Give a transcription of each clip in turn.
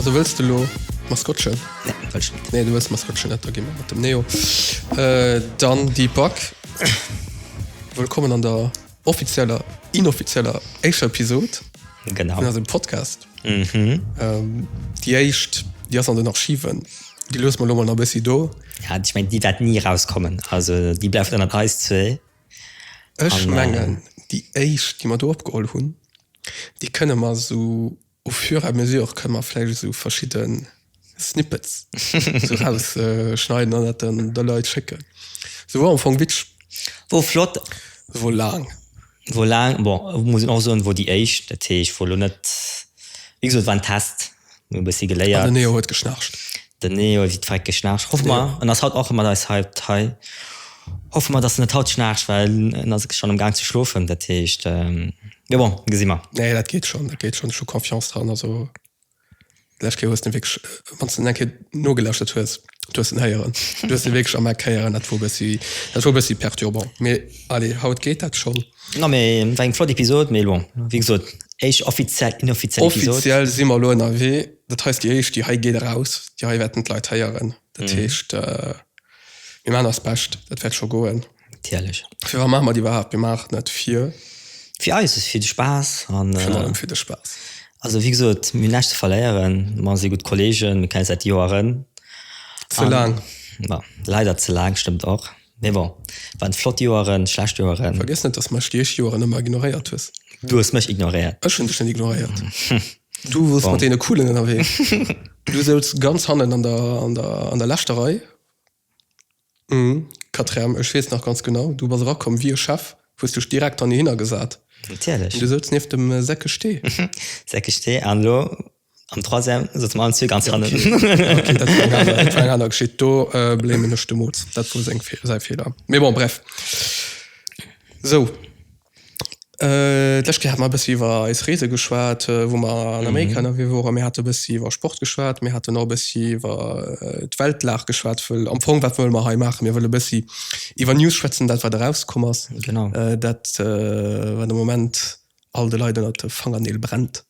Also wëlls de lo Maskottchen? Nee, wëll ech net. Nee, du wëlls Maskottchen net, da gi mer mat dem Neo. Äh, dann déi Back. Wëllkommen an der Offizieller, inoffizieller éischer Episod. Genau. Vun eisem Podcast. Mhm. Ähm, déi éischt, déi ass an den Archiven. Déi lues mer lo mol nach bëssi do. Ja, ich mein, déi wäert ni rauskommen. Also déi bleift ënnert eis zwee. Ech mengen, déi éischt, déi mer do opgeholl hunn, déi kënne mer esou Au fur et à mesure kënnen mer vläicht esou verschidde Snippets esou rausschneiden an dat dann de Leit schécken. Se wor am Fong witsch. Wor flott. Se wor laang. Wor laang, bon, muss een och soen, wor déi éischt. Dat heescht, wor elo net, wéi gesot, war en Test. Mir hu e bëssi geléiert. An den Neo huet geschnarcht. Den Neo huet wéi d'Vreck geschnarcht. Hoffe mer, en ass haut och mat eis hei op d'Hei, hoffe mer, dass en net haut schnarcht, well en ass schonn am Gaang ze schlofen. Dat heescht. Jo bon, gesi mer. Nee, dat geet schonn, dat geet schonn. Ech hu Confiance dran. Also, déi lescht Kéier hues de en wierklech, wann s de en eng Kéier nogelauschtert hues, du hues en héieren. Du hues en wierklech am Eck héieren. Dat wor e bëssi, dat wor e bëssi perturbant. Mee allez, haut geet dat schonn. No, mee et war eng flott Episod. Mee bon, wéi gesot, éischt offiziell, inoffiziell Episod. Offiziell si mer elo ënnerwee. Dat hei ass déi éischt, déi hei geet eraus. Déi hei wäerten d'Leit héieren. Dat heescht, mir maachen eist Bescht, dat wäert scho goen. Tierlech. Fir wa maache mer déi iwwerhaapt? Mir maachen et fir. Fir eis, fir de Spaass an. Virun allem fir de Spaass. Also wéi gesot, mir hunn näischt ze verléieren. Mer si gutt Kolleegen, mir kennen eis säit Joeren. Ze laang. Ma leider ze laang, stëmmt och. Mee bon, et waren flott Joeren, schlecht Joeren. Vergiess net, dass mech déch Joeren ëmmer ignoréiert hues. Du hues mech ignoréiert. Ech hunn dech net ignoréiert. Du woars mat deene Coolen ënnerwee. Du souz ganz hannen an der, an der, an der leschter Rei. Hm, Katerem, ech weess nach ganz genau, du bass erakomm wéi e Chef, hues dech direkt hannehinner gesat. Natierlech. An du souz nieft dem Säckesté. Säckesté, an elo am Troisième souze mer allen zwee ganz hannen. Okay, dat war eng aner, dat war eng aner Geschicht, do blamen ech de Moz, dat wor seng, säi Feeler. Mee bon, bref. Sou. D'lescht Kéier hat mer e bëssi iwwer eis Reese geschwat, wou mer an Amerika ënnerwee woren. Mir hate bëssi iwwer Sport geschwat. Mir haten och e bëssi iwwer d'Weltlag geschwat, wëll am Fong, wat wëlle mer hei maachen? Mir wëlle bëssi iwwer News schwätzen, dat wat erauskomm ass, dat wat am Moment all de Leit ënnert de Fangerneel brennt,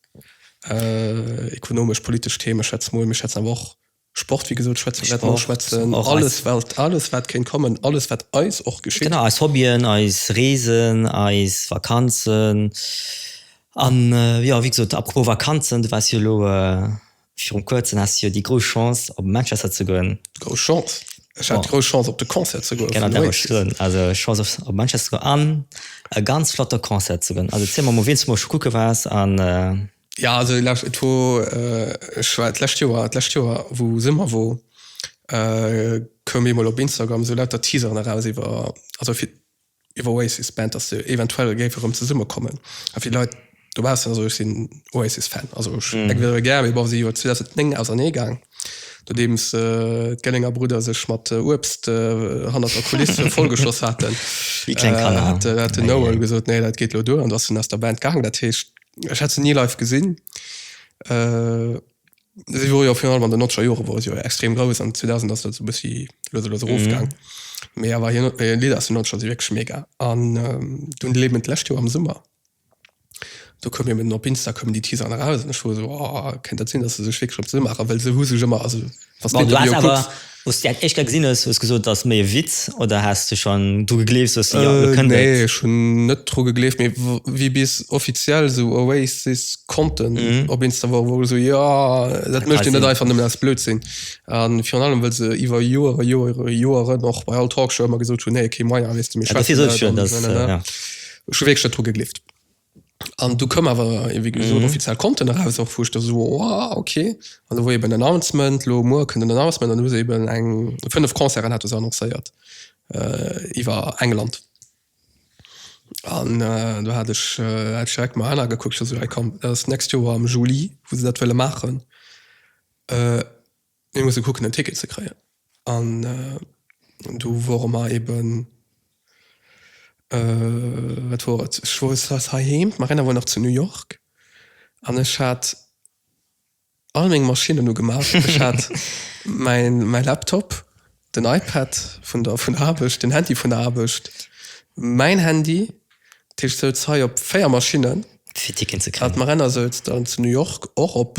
ekonomesch, politesch Themen, schätz mol. Mir schwätzen awer och Sport, wéi gesot, schwätzen, wäerte mer schwätzen, alles wat, alles wat kéint kommen, alles wat eis och geschitt. Genau, eis Hobbyen, eis Reesen, eis Vakanzen an jo, wéi gesot, à propos Vakanzen, du waars jo elo viru kuerzem, haas jo déi grouss Chance op Manchester ze goen. Grouss Chance? Ech hat d'grouss Chance op de Concert ze goen vun den Oasis. Genau, dat wollt ech soen, also Chance op Manchester ze goen an e ganz flotte Concert ze goen, also ziel mer mol wien s du mol scho kucke waars an. Ja also et wor, ech war d'lescht Joer, d'lescht Joer wou Summer wor koum eemol op Instagram sou lauter Teaseren eraus iwwer, also fir d'Oasis Band dass se eventuell géif erëm zesumme kommen a vill Leit dobaussen, also ech sinn Oasis Fan, also ech hu se gär mee bon si si jo 2009 ausernee gaang nodeems d'Gellinger Brudder sech mat Uebst hannert der Kuliss vollgeschoss haten, hat den Noel gesot nee dat geet elo duer an du ass en aus der Band gaang, dat heescht Ech hat se ni live gesinn. Si wor jo virun allem an de nonzeger Jore wor si jo extrem grouss an 2000 ass dat sou e bëssi lues a lues erofgaang. Mee awer hir hir Lidder aus den nonzeger si wierklech mega. An dunn de Leben d'lescht Joer am Summer, do koum eben op Insta koumen déi Teaseren eraus an ech wor esou, oh, kéint dat sinn, datt se sech wierklech op d'Sënn maachen? Well se hu sech ëmmer, also Wanns de de Video kucks. Wous de en éischter gesin hues, hues gesot ass méi e Witz oder has de schon dru gegleeft soss jo lo kënnt et? Nee ech hun net dru gegleeft, mee wéi bis offiziell esou Oasis Content op Insta wor, wor ech esou jo dat mecht dir net einfach nemmen aus Blödsinn an virun allem well se iwwer Joeren, Joeren, Joeren och bei all Talkshow emmer gesot hun nee kee Meier wees de mir schwätzen net an dofir sot ech jo dass ech hun wierklech net dru gegleeft. An du koum awer wéi gesot mm -hmm. offiziell Konten eraus och vuch der so oh, okay an woi eben Announcement lo mo kënnt den Announcement an hu eben eng 5 Konzeren hat annoncéiert äh, iwwer England. An äh, du hat ech äh, direkt mal einer gekuckt so, hey, komm, das next Joer am Juli wo se dat wëlle machen. Äh, Mir musse kucken en Ticket ze kréien an du wore mer eben wat wor et ech wor stress heiheem d'Marina wor nach zu New York an ech hat all meng Maschinnen ugemaach. Ech hat mäin mäi Laptop, den iPad vun der vun der Aarbecht, den Handy vun der Aarbecht, mäin Handy, dat heescht souz hei op 4 Maschinnen. Fir Ticketen ze kréien. An d'Marina souz dann zu New York och op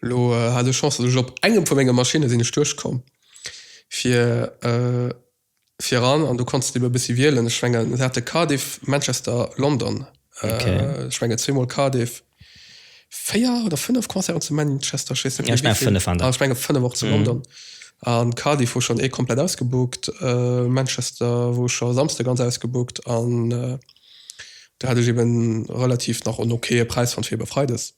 Lo hat ech Chance, dass ech op engem vu menge Maschinne sinn ech duerchkomm fir viran an do kanns de ebe bëssi wielen. Ech mengen se hate Cardiff, Manchester, London, ech menge zweemol Cardiff, véier oder fënnef Concerten zu Manchester, ech weess net méi wéi vill, an ech menge fënnef och zu London. A Cardiff wor schonn ee komplett ausgebookt, Manchester wor scho e Samsde ganz ausgebookt an do hat ech eben relativ nach en okaye Präis fonnt fir ebe freides.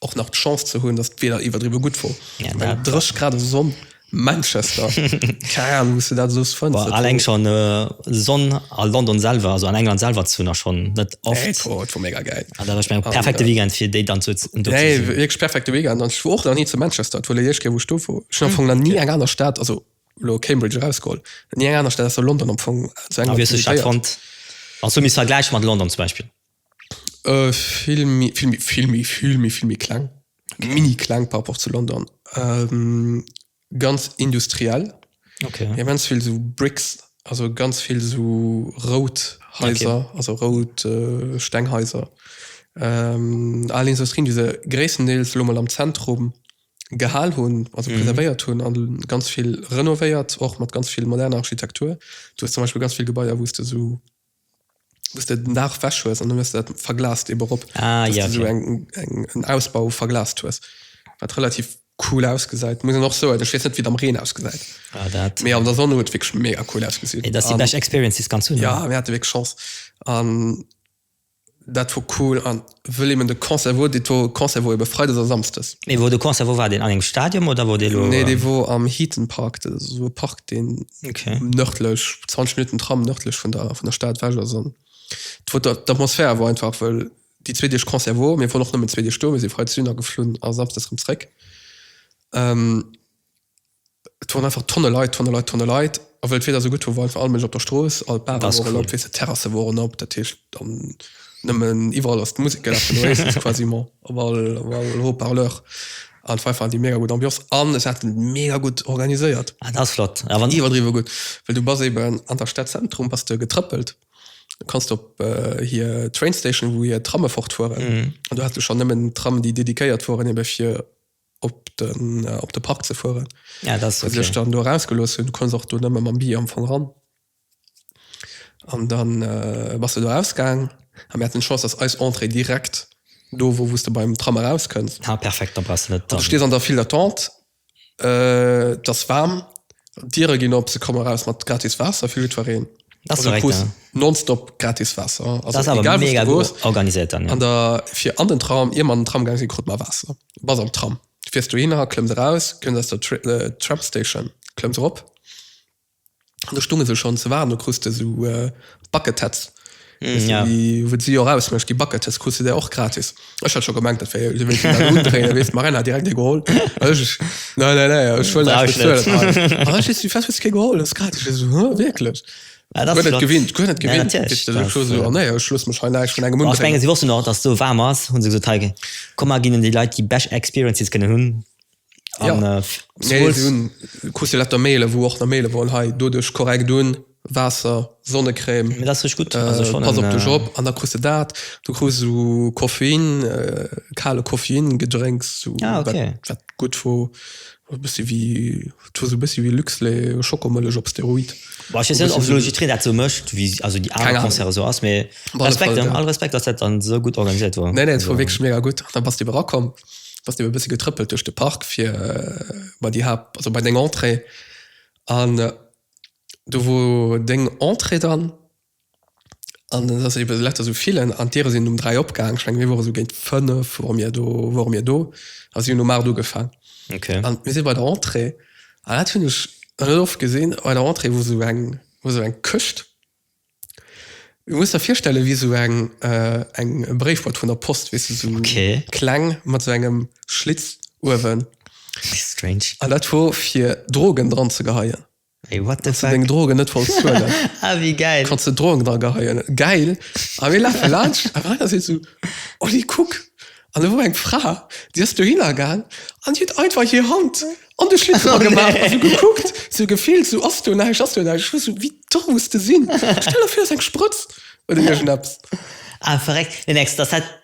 och nach d'Chance ze hunn, datt d'Wieder iwwerdriwwe gutt wor. Eng 30 Grad a Sonn, Manchester, keng Ahnung, wou s de dat soss fënns. Boah, alleng schonn Sonn a London selwer, also an England selwer, zu hunn ass schonn net oft. Nee, boah, et wor mega gäil. An dat ass, ech mengen, perfekte Weekend, fir déi dann do ze sinn. Nee, wierklech perfekte Weekend. An ech wor och nach ni zu Manchester, et wor déi éischt Kéier, wou ech do wor. Ech hunn am Fong nach ni eng aner Stad, also elo Cambridge erausgeholl, ni eng aner Stad ausser London am Fong zu England visitéiert. A wéi hues de d'Stad fonnt, wann s du misst vergläiche mat London zum Beispill? Vill méi, vill méi, vill méi, vill méi, vill méi kleng, mini kleng par rapport zu London. Ganz industriell, immens vill esou Bricks, also ganz vill esou rout Haiser, also rout Stenghaiser. Al Industrien, déi se gréisstendeels elo mol am Zentrum gehal hunn, also preservéiert hunn a ganz vill renovéiert, och mat ganz vill moderner Architektur. Du hues zum Beispill ganz vill Gebaier, wou s de esou Dass de den Daach ewech hues an dann hues de dat verglast eebe rop. Ah, dass ja, de sou okay. eng, eng, en Ausbau verglast hues, wat relativ cool ausgesäit. Muss een och soen, ech weess net, wéi et am Reen ausgesäit, Ah, dat. mee an der Sonn huet et wierklech mega cool ausgesinn. Mee dat ass déi an, bescht Experience, déi s kanns hunn, ja, oder? mir hate wierklech Chance an. Dat wor cool an wëll eben de Concert wor dee to, Concert wor eben Freides a Samsdes. Mee wor de Concert wor war deen an engem Stadium oder wor dee lo? Nee dee wor am Heaton Park, dat ass esou e Park deen nërdlech, 20 Minuten Tram nërdlech vun der vun der Stad ewech ass an et wor der d'Atmosphär wor einfach wëll déi zwee Deeg Concert wor, mir woren och nëmmen zwee Deeg do, mir si Freides dunner geflunn a Samsdes rëm zréck. Et woren einfach Tonne Leit, Tonne Leit, Tonne Leit. A wëll d'Wieder sou gutt wor, wor einfach all Mënsch op der Strooss, all d'Bare Ass woren cool. op, weess de, d'Terrasse woren op. Dat heescht, dann nëmmen iwwerall ass d'Musek gelafen, du héiers et quasiment op all, op all Haut-Parleur. An et war einfach déi mega gutt Ambiance an et hat et mega gutt organiséiert. Ah, dat ass flott. A wann. Iwwerdriwwe gutt, well du bass eeben an der Stad Zentrum, bass de getrëppelt, du kanns op hir Train Station, wou hir Tramme fortfueren, an du has du schonn nëmmen Tramm, déi dediquéiert woren eebe fir. op den op de Park ze fueren ja, das okay. sech dann do rausgelos hun kon och du nëmme ma Bi am Fong ran an dann äh, was du do ausgang am Mä den Schoss ass eis Entrée direkt do wo wusste beim Tram rauskënns ah, perfekt ste an der viel attente äh, das warm Dire gin op se komme raus mat gratis Wasser fir Lütwereen nonstop gratis Wasser organisiert an der fir an den Traum ir man den Tramgang se krut ma Wasser. Bass am Tram, fiers dohinner, klëmms eraus, kënns aus der Tramstation, klëmms erop. Do stunge se schonn ze waarden. Do krus de esou Bucketheads, weess de, déi, wou si och ausmécht, déi Bucketheads krus de där och gratis. Ech hat scho gemengt, dat wär jo, si wéilte mer do undréinen, weess de, d'Marène hat direkt ee geholl. Ech, Nei, nei, nei, ech wëll näischt bezuelen hei. Ech, Ech, Fest, hues de kee geholl? Dat ass gratis. Ech esou, Huh, wierklech? Ah, das flott. gewinnt gewinnt sie wussten noch dass so warm ass hun se so teige kom mal gin die Leute die Bech experiences kënne hunn ku letter Mail wo och der Mail wollen hei do duch korrekt doen Wasser sonnecreme das sech gut an der kru dat du kru so koffein äh, kale koffein gedrängs zu ah, okay. gut wo bist wie Dat war sou bessi wéi Luxlait, Schokomëllech op Steroid. Boah, ech wees net of Logic Tree dat sou mecht wéi also déi aner Concerte sou ass mee Respekt hein, all Respekt dass dat dann sou gudd organiséiert wor. Nee nee et wor wierklech mega gudd an dann bass de ebe rakomm, bass de ebe e bësse getrëppelt duerch de Park fir bei déi Haapt also bei deng Entrée an do wor deng Entrée dann. An et ass ebe letzt esou villen, an d'Diere sinn um dräi opgaang, ech mengen mir wore sou géint fënnef wore mir do, wore mir do a si hunn um aacht ugefaang. An mir si bei der Entrée, an dat hunn ech net oft gesinn, bei der Entrée wor sou eng, wor sou eng Këscht, du muss der virstelle wéi sou eng, eng Bréifboîte vun der Post, weess de, sou kleng mat sou engem Schlitz uewen. An dat wor fir Drogen dran ze geheien. Ey what the fuck. Deng Drogen net wolls zuelen. Ah wéi geil. Kanns de Drogen dra geheien. Geil. A mir lafe laanscht an einer seet sou, Oli kuck. An do wor eng Fra déi ass dohinner gaang an déi huet einfach hir Hand an de Schlitz dra gemaach a sou gekuckt, sou gefillt, sou ass do näischt, ass do näischt. Ech war sou, wéi domm muss de sinn. Stell der vir et ass eng Sprëtz oder iergend eppes. Ah verréckt. Nee nix, dass dat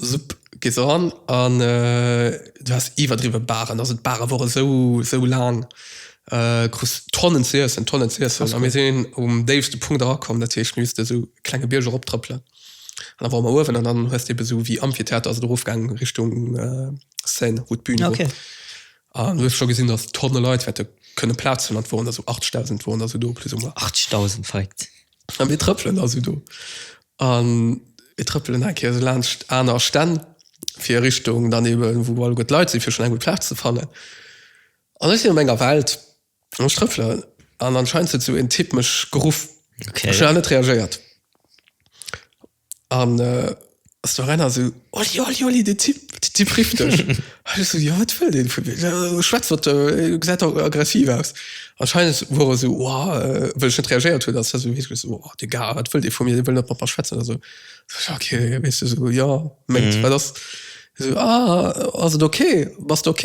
Supp gees eran an du has iwwerdriwwe Baren, also d'Bare wore sou sou laang. Krus Tonnen ze iessen, Tonnen ze iessen. Krass, a mir cool. sinn um déifste Punkt erakomm, dat heescht mir missten esou e klenge Bierg eroptrëppelen. An da wore mer uewen an dann hues de ebe sou wéi Amphitheater ass et erofgaangen Richtung Seine, wou d'Bün wor. Okay. An du hues scho gesinn, datt Tonne Leit wäerte kënne Plaz hunn an et woren der sou 8.000 woren der sou do plus ou moins. 8.000, verréckt. A mir trëppelen da sou do An mir trëppelen eng Kéier esou laanscht aner Stänn, fir a Richtung dann eben, wou alleguer d'Leit sinn, fir schonn eng gutt Plaz ze fannen. An ech sinn a menger Welt an ech trëffelen an anscheinend huet esou een Typ mech geruff. Ech hunn awer net reagéiert. An ass do erenner esou. Oli, Oli, Oli, de Typ, de Typ rifft dech. An ech so, ja, wat wëll deen vun mir? Schwätz wat, äh, gesäit da aggressiv aus. Anscheinend wor e sou, oha, äh, well ech net reagéiert hunn, ass hie sou heesch, sou, oha, de Gars, wat wëll dee vu mir, dee wëll net mat mer schwätzen a sou. Ech so, ja, ok, weess de, sou, ja, mengt, wat ass? Hie sou, ah, ass et ok, bass de ok?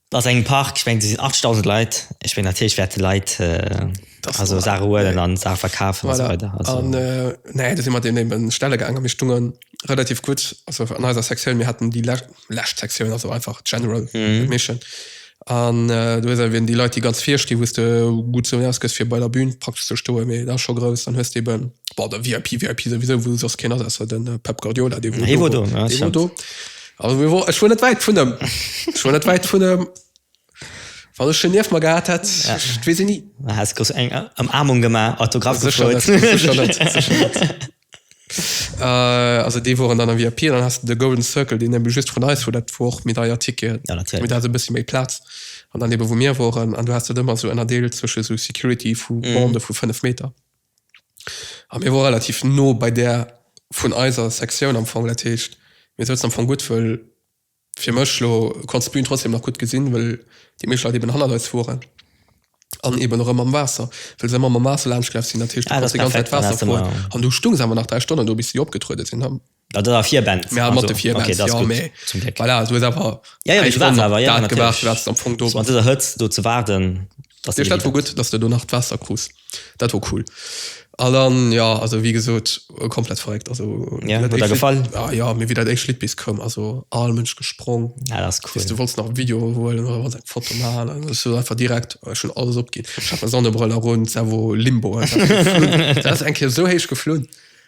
Ass engem Park, ech mengen do sinn 80.000 Leit, ech mengen natierlech wäerte Leit also Saache huelen an Saache verkafen a sou weider. Voilà an nä do si mer deem némmen stelle gaangen a mir stunge relativ gutt also an eiser Sektioun, mir haten déi lescht lescht Sektioun also einfach general admission an do hues awer wierden déi Leit déi ganz vir stinn, wou's de gutt sou erausgëss fir bei der Bühn praktesch ze stoen, mee dat ass scho grouss. Dann hues de eben bei der VIP VIP souwisou wou soss keen ass ausser den Pep Guardiola, dee wor do, dee wor do, Ech wor net wäit vun em. Ech wor net wäit vun em. Wann ech en nieft mer gehat hätt, ech weess et ni. Du häss grouss eng Ëmarmung gemaach, Autograff gefrot. Sécher net, sécher net, sécher net. Also déi woren dann am VIP an dann has de de Golden Circle, deen ebe just vun eis wor, dat wor och méi deier Ticketen. Jo, natierlech. Mee dat hat e bëssi méi Plaz. An dann ebe wou mir woren an du has dat ëmmer esou ënnerdeelt zwësche sou Security vu Bande vu fënnef Meter. A mir wore relativ no bei där vun eiser Sektioun am Fong. Dat heescht, mir souzen am Fong gutt, wëll fir mech elo, du konns d'Bün trotzdeem nach gutt gesinn, wëll déi meescht Leit eben hannert eis woren. An eben erëm mam Waasser, wëll se ëmmer mam Waasser laanschtgelaf sinn. Dat heescht, du konns déi ganz Zäit Waasser froen. An du stung se awer nach dräi Stonnen do, bis si opgetruede sinn. Dat ass a vir Benz. Mä mat de vir Benz, jo, mä voilà, du hues awer eng Stonn op dat gewaart, wat s de am Fong do. An dëser Hëtzt do ze waarden, dat ass. Dat wor gutt, datt s de do nach d'Waasser krus. Dat wor cool. A dann, jo, also wéi gesot, komplett verréckt. Also, jo, huet der gefall? Jo, mä wéi dat éischt Lidd bis koum, also all Mënsch gesprongen. Dat ass cool. Du wollts nach e Video huelen oder wollts eng Foto maachen an ech hunn einfach direkt schonn alles opginn. Ech hat meng Sonnebrëll erun, d'Sau wor limbo einfach. Dat ass eng Kéier esou héich geflunn.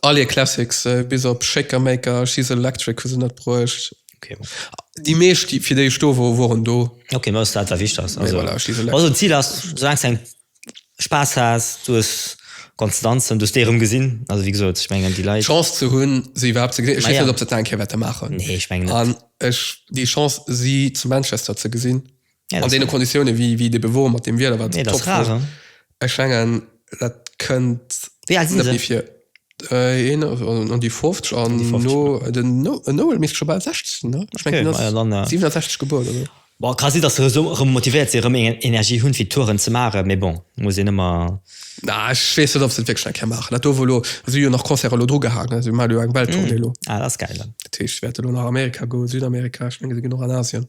All hir Classics, bis op Shaker Maker, She's Electric hu se net bruecht. Okay. Déi meescht, déi, fir déi ech do wor, woren do. Okay, ma ass dat wat wichteg ass. Mee voilà, She's Electric. Also d'Zil ass, soulaang s de Spaass has, du hues konnt danzen, du hues déi erëm gesinn, also wéi gesot, ech mengen déi Leit. D'Chance ze hunn, se iwwerhaapt ze gesinn, ech weess net, ob se et nach eng Kéier wäerte maachen. Nee, ech mengen net. An ech déi Chance, si zu Manchester ze gesinn. Ja, an deene Konditiounen wéi wéi de Bewuer mat deem Wieder wat nee, top rar, war. Ech mengen dat kënnt wéi alt sinn fir äh, een an déi 50 an no den no en Noel misst scho bal 60 sinn ne ech okay, mengen, ja, dann, ja. 67 gebuer oder Bon, ka si dass rëm so, motivéiert si rëm eng Energie hunn fir Touren ze mare mee bon muss een ëmmer na ech wees net ob se wéckleg ke maachen dat do wo lo si jo nach Concert lo dru gehaange si mal eng Welttournee mm. lo ah, dat geil dat heescht wäerte lo nach Amerika goen Südamerika ech menge se ginn och an Asien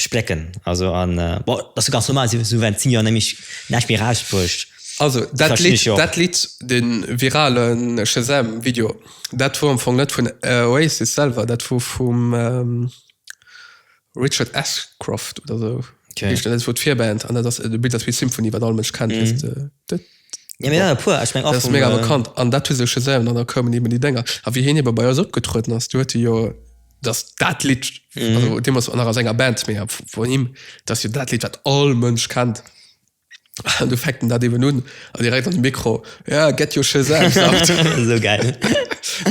Splécken also an bon dat ass jo ganz normal, esou während 10 Joer nämlech näischt méi erausbruecht. Also dat Lidd, dat Lidd, den viralen Shazam Video, dat wor am Fong net vun Oasis selwer, dat wor vum Richard Ashcroft oder esou heescht en, dat wor d'Virband an dat ass, de Bild ass wéi Symphony wat all Mënsch kennt, wéisst de. Ja, mir e puer, ech meng och. Dat ass méga bekannt an dat hu se scho selwen an da koumen eben déi Dénger a wéi hien ebe bei eis opgetrueden ass, do huet e jo dass dat Lidd, also dee moss nach aus enger Band mee vun him, dass jo dat Lidd wat all Mënsch kennt an do fänkt en dat eben un a direkt an de Mikro, ja get your Shazam sound. Esou gäil.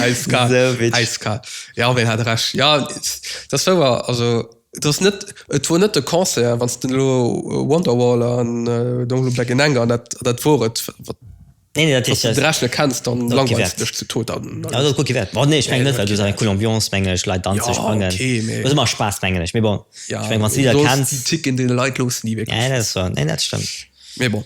Äiskal, äiskal. Jo, wéi hat e Recht. Jo, dat ass wouer, also. Et ass net, et wor net de Concert, wann s de elo Wonderwall an Don't Look Back in Anger, dat, dat wor et, wat, Nee, nee, dat wann s de de Rescht net kenns, dann Dat langweils gewäert. de dech zu Tod. Dann, dann Ja, dat ass gutt gewäert. Bon, nee, ech mengen net, well du ass eng cool Ambiance, mengen ech, Leit danze Ja, sprangen. okay, mee- Ass ëmmer Spaass, mengen ech. Mee bon, ja, ech meng, wann s du Lidder sollst kenns. déi Ticken deene Leit loossen, déi wierklech. Nee, dat ass wouer. Nee, dat stëmmt. Mee bon.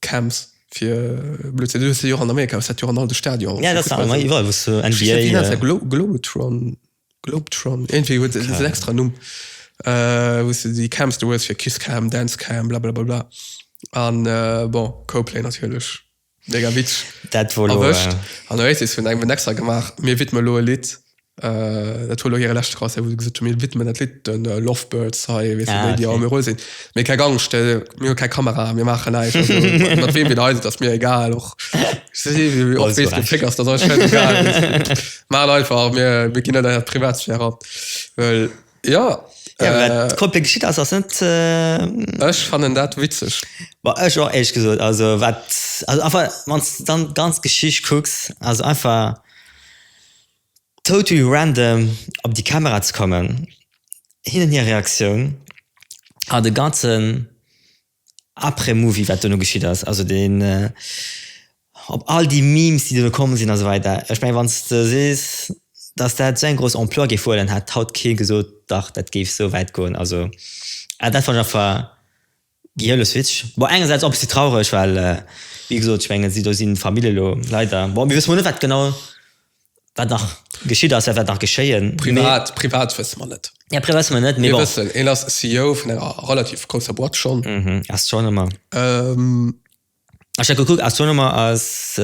Camps fir Blödsinn. Du hues se jo och an Amerika, hues dat jo an all de Stadioner och. Ja, dat war ëmmer iwwerall, wou s du NBA. Wéi heescht dat? Glo Globetron? Globetron? Iergendwéi huet dat en extra Numm, wou s du déi Camps do hues fir Kiss Cam, Dance Cam, blablabla. An, bon, Coplay natierlech, mega Witz. Dat wor elo. Erwëscht. An Oasis hunn eng Wend extra gemaach, Mir widme lo e Lidd Dat war elo hire leschte Concert, wou se gesot hunn, mir widmen dat Lidd de Lovebirds hei, weess de, déi, déi am Euro sinn. Mee keng Angscht, mir hu keng Kamera, mir maachen näischt. Also mat weem een eis, et ass mir egal och. Och weess de Féck ass, dat ass eis schäisegal. Maacht einfach, mir ginn net Är Privatsphär an. Well jo. Jo, wat komplett geschitt ass, ass net. Ech fannen dat witzeg. Bah, ech och éierlech gesot. Also wat, also einfach, wann s de dann d'ganz Geschicht kucks, also einfach. Totally random op déi Kamera ze kommen, hinnen hir Reaktioun a de ganzen après movie wat duerno geschitt ass, also deen op all déi Memes déi duerno komm sinn a sou weider. Ech mengen wann s de sees dass dat sou eng grouss Ampleur géif huelen hätt haut kee gesot dach dat géif sou wäit goen, also dat fannt ech einfach. Giele Switch, bon engersäits och e bëssi traureg, well wéi gesot, ech mengen si do sinn d'Famill elo leider, bon mir wësse mol net wat genau wat nach geschitt ass, wat wäert nach geschéien. Privat, privat wësse mer net. Ja, privat wësse mer net, mee bon. Mir wëssen, hien ass CEO vun enger relativ grousser Boîte schonn. Ass schonn ëmmer. Ech hat gekuckt, Astronomer ass,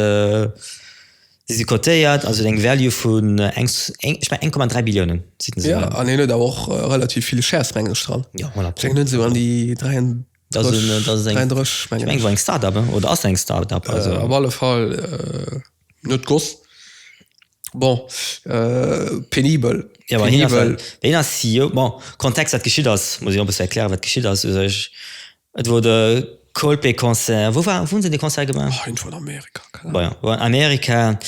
si si cotéiert, also huet eng Value vun eng, ech mengen 1,3 Billiounen. Jo, an hien huet awer och relativ vill Shares meng ech dran. Jo, voilà. Ech mengen hien huet esou an déi 33, 34 meng ech. Ech mengen et war eng Start-up, oder ass eng Start-up. Op alle Fall net Goss. Bon, penibel. Jo, ma hien ass, hien ass CEO. Bon, Kontext, wat geschitt ass, muss ech och e bësse erklären, wat geschitt ass u sech. Et wor de Coldplay-Concert. Wou war, wou hunn se dee Concert gemaach? Oh, iergendwou an Amerika, keng Ahnung. Bon, jo, war an Amerika.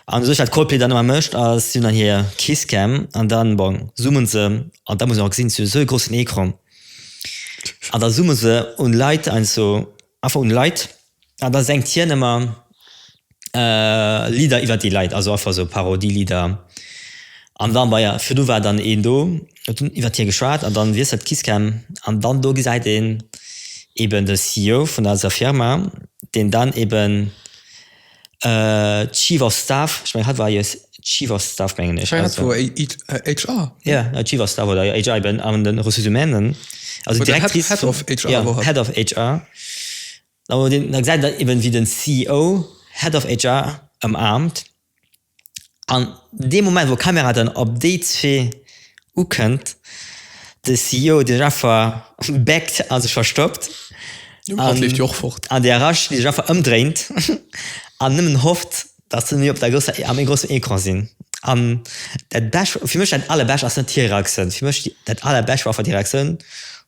An u sech, wat Coldplay dann ëmmer mécht, ass, si hunn dann hir Kisscam an dann, bon, zoome se, an da muss een och gesinn, si hu sou e groussen Ecran, an da zoome se un Leit heiansdo A vu Leit, a da sengt hien ëmmer Lidder iwwer déi Leit, also einfach esou Parodielidder. An da bei a virdu war dann een do, huet dunn iwwer hie geschwat, an da wiesselt d'Kisscam an dann do gesäit een eeben de CEO vun eiser Firma, deen dann eeben. Chief of Staff ech mengen hat war eis Chief of Staff mengen ech hat war HR yeah Chief of Staff oder HR eben an den Ressources Humainen also oder Directrice Head of HR yeah war hat Head of HR awer deen da gesäit een eben wéi den CEO Head of HR ëmaarmt An dee Moment, wou d'Kamera dann op déi zwee ukënnt, de CEO, de Jaffer, backt a sech verstoppt, an de Arash, dee sech einfach ëmdréint an nëmmen hofft, datt se méi op der grousser, a méi groussem Ecran sinn. An dat Besch, fir mech dat Allerbescht ass net hir Reaktioun. Fir mech dat Allerbescht war einfach déi Reaktioun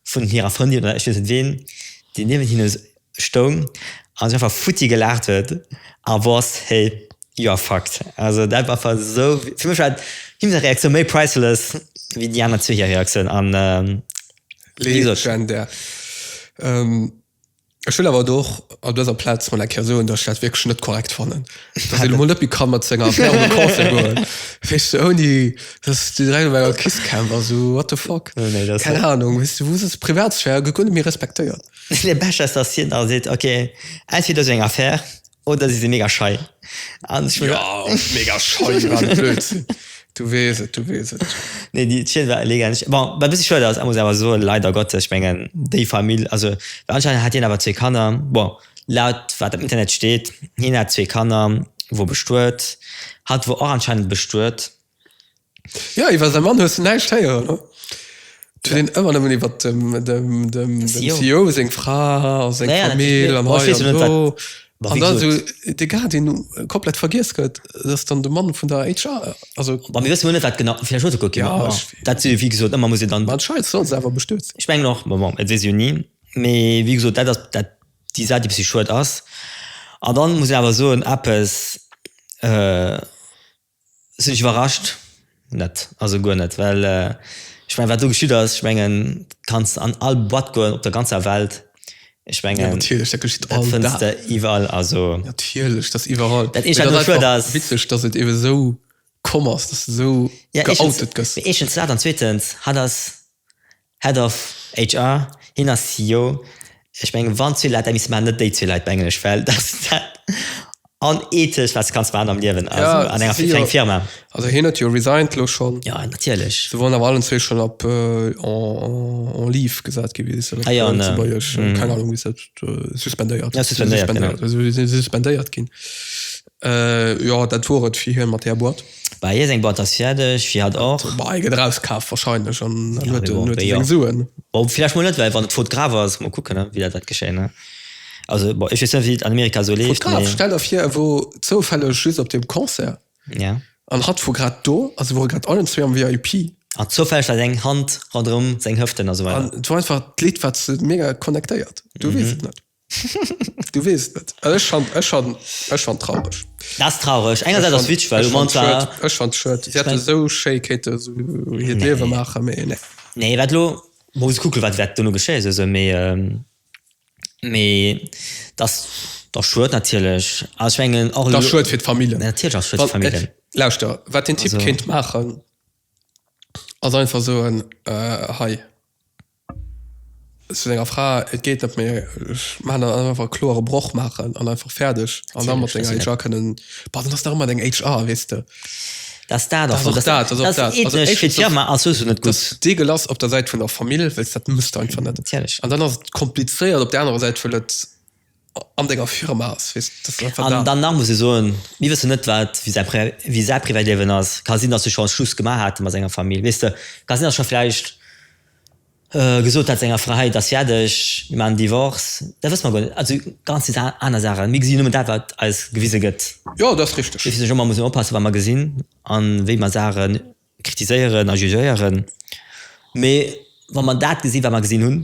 vun hirer Frëndin, oder ech weess net ween, déi niewent hinnen Stoung an sech einfach futti gelaacht huet a wosst, hey, you are fucked. Also dat war einfach esou, fir mech war him seng Reaktioun méi priceless wéi déi aner zwee hir Reaktioun an wéi gesot. Legendär. Ech wëll awer elo och op dëser Plaz mol eng Kéier soen, datt ech dat wierklech net korrekt fannen, datt een emol net méi ka mat senger Affär un de Concert goen, weess de, ouni datt s du direkt op enger Kist camp ass, esou what the fuck, keng Anung, weess du, wou sëtz, Privatsphär gëtt guer net méi respektéiert. De Becher ass dansziert nach a seet, Ok, entweder esou eng Affaire oder si si mega schei. An ech muss. Yow, mega schei war de Blödsinn. Du weess et, du weess et. Nee, déi d'Schied war elegant. Bon, wat e bëssi schued ass, muss een awer soen, leider Gottes, ech mengen, déi Famill, also, well anscheinend hat hien awer zwee Kanner, bon, laut wat am Internet steet, hien hat zwee Kanner, wor bestuet, hatt wor och anscheinend bestuet. Ja, iwwer säi Mann hues de näischt héieren, oder? Et huet een ëmmer nëmmen iwwer dem, dem, dem, dem Sio. Sio seng Fra a seng Ja, ja, Famill natierlech. an Bon, ech hei weess an jo net, do. wat- Ma An wéi da esou gesot. de Guardian komplett vergiess gëtt, dass dann de Mann vun der HR, also. Ma mir wëssen jo net, wat genau, vläicht huet e kuckt jo nach Ja, ëmmer. ech. Dat si jo, wéi gesot, ëmmer muss een dann. Ma d'Scheiss soll se awer bestürzen. Ech mengen och, ma bon, et weess ee jo ni. Mee wéi gesot, dat ass dat, déi Saach, déi e bëssi schued ass. An dann muss een awer soen, eppes, Sinn ech iwwerrascht? Net, also guer net, well ech mengen wat do geschitt ass, ech mengen kanns an all Boîte goen op der ganzer Welt, ech mengen dat fënns de iwwerall, also dat eenzegt wat elo schued ass, eeschens dat an zweetens hatt ass. Head of HR, Hien ass CEO. Ech mengen, wann zwee Leit dat misste maachen, net déi zwee Leit op Englesch, well dass dat onethesch, wat kanns maachen am Liewen ass an enger kleng Firma. Also hien huet jo resigned elo schonn. Jo, natierlech. Se waren awer allen zwee schonn op en leave gesat gi, wéi se dat op Lëtzebuergesch, keng Ahnung, wéi se dat, suspendéiert. Suspendéiert, genau. Si si suspendéiert ginn. Euh jo dat wor et fir hien mat där Boîte. Bah hie seng Boîte ass fierdeg, fir hat och. Bah hie gëtt erauskaaft warscheinlech an dann huet en huet en seng Suen. Bon villäicht mol net well wann et faute grave ass, mol kucken ne wéi dat wäert geschéien ne. Also bon ech weess net wéi et an Amerika esou leeft mee. Faute grave, stell der vir e wor zoufälleg just op deem Concert. Ja. An hatt wor grad do a se wore grad allen zwee am VIP. An zoufälleg war seng Hand ronderëm seng Hëften a sou weider. An et wor einfach d'Lidd wat se mega connectéiert. Du weess et net. Du wees net ech han ech han ech han traureg. Da's traureg enger dat ass witsch well man zwar ech fan shirt sie hat esou schéi kéinte sou hiert liewe maache mee nee nee wat lo muss kucke wat wat dono geschéie sou se mee mee da's da's schued natierlech ass ech mengen och da's schued fir d'famillen natierlech ass schued fir d'famillen lauschter wat den typ kéint maachen ass einfach soen hei Zu senger Fra, Et geet net méi, ech maachen dann einfach e kloere Broch maachen an einfach fäerdeg. An da mat senger HR kënnen, bah, dann ass nach ëmmer deng HR, weess de. Dat ass dat, also dat ass och dat. Also éischtens, fir d'Firma ass souwisou net gutt. D'Eagle ass op der Säit vun der Famill, well s dat muss de einfach net. Natierlech. An dann ass et komplizéiert op där anerer Säit, well et an denger Firma ass. An dann nach muss ee soen, mir wëssen net, wat, wéi säi Privatliewen ass. Ka sinn, datt se schonn Schluss gemaach hate mat senger Famill, weess de. Ka sinn, datt scho vläicht gesot hat senger Fra, hei, et ass fäerdeg, mir maachen Divorce. Dat wësse mer guer net. Also ganz vill aner Saachen. Mir gesi nëmmen dat, wat eis gewise gëtt. Jo, dat ass richteg. Dofir sinn ech och, mer mussen oppassen, wat mer gesinn a wéi mer Saache kritiséieren a jugéieren. Mee wa mer dat gesi wat mer gesinn hunn,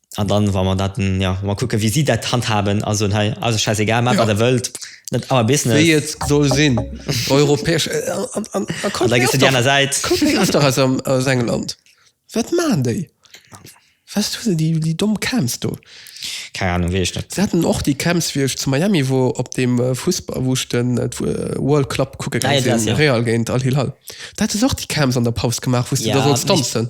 An dann, wa mer dat, jo, wa mer kucken, wéi si dat handhaben a soen, Hei ass et schäisegal, maacht, wat der wëllt, net our business. Wéi et soll sinn. Europäesch, an da kuck mir och nach, kuck mir och nach aus England, wat maachen déi? Wesst du, déi domm Camps do. Keng Anung, weess ech net. Si haten och déi Camps, wéi ech zu Miami wor, op deem Fussball, wou ech de World Club kucke gaange sinn, Real géint Al-Hilal. Do hate se och déi Camps an der Paus gemaach, wou s de da sollts tanzen.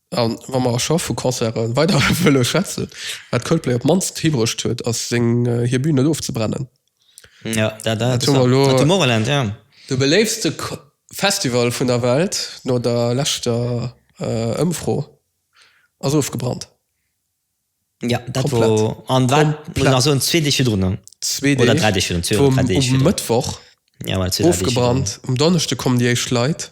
A wa mer scho vu Concerte weider wëlle schwätzen, wat Coldplay op d'mannst hibruecht huet, ass seng hir Bühn net ofzebrennen. Jo, dat ass interessant. Tomorrowland, jo. De beléiftste Festival vun der Welt, no der leschter Ëmfro, ass ofgebrannt. Jo, dat wor. Komplett. An wat? Muss ech nach soen, zwee Deeg virdrun dann. Zwee Deeg. Oder dräi Deeg virdrun. Zwee oder dräi Deeg virdrun. Vum Mëttwoch ofgebrannt, um Donneschde kommen déi éischt Leit.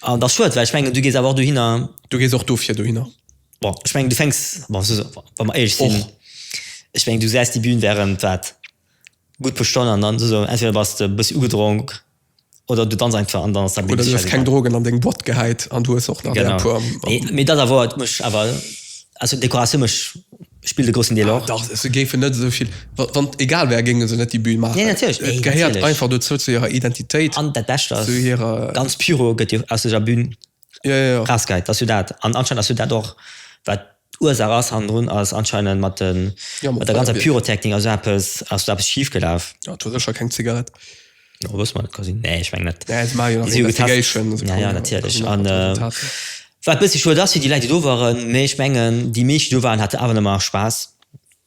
An dat ass schued, well ech mengen, du gees awer och dohinner. Du gees och dofir dohinner. Bon, ech mengen, du fänks, bon, wa mer éierlech sinn, ech mengen, du säis déi Bühn wärend, wat, gutt puer Stonnen an dann ass esou, entweder bass de e bëssi ugedronk oder du danz einfach an dann ass dat méi. Oder du hues keng Drogen an deng Boîte gehäit an du hues och nach där puer. Genau. Mee dat awer huet mech awer, also d'Dekoratioun mécht. spillt e grossen Deel och. Dach, se géifen net esou vill, wann et egal wär, géinge se net déi Bühn maachen. Nee, natierlech, nee, natierlech. Et gehéiert einfach dozou, zu hirer Identitéit. An dat Bescht ass, ganz Pyro gëtt jo aus deser Bühn erausgehäit, dat ass jo dat. An anscheinend ass jo dat och, wat d'Ursaach ass hannendrun, ass anscheinend mat der ganzer Pyrotechnik ass jo eppes, ass do eppes schifgelaf. Jo, et wor sécher keng Zigarett. Oh, was man quasi nee ich mein, dat, ja, ja, ja, ja, natürlich ja, an, äh, war bis schon das wie die Leute do waren me ich mengen die mich du waren hatte aber immer Spaß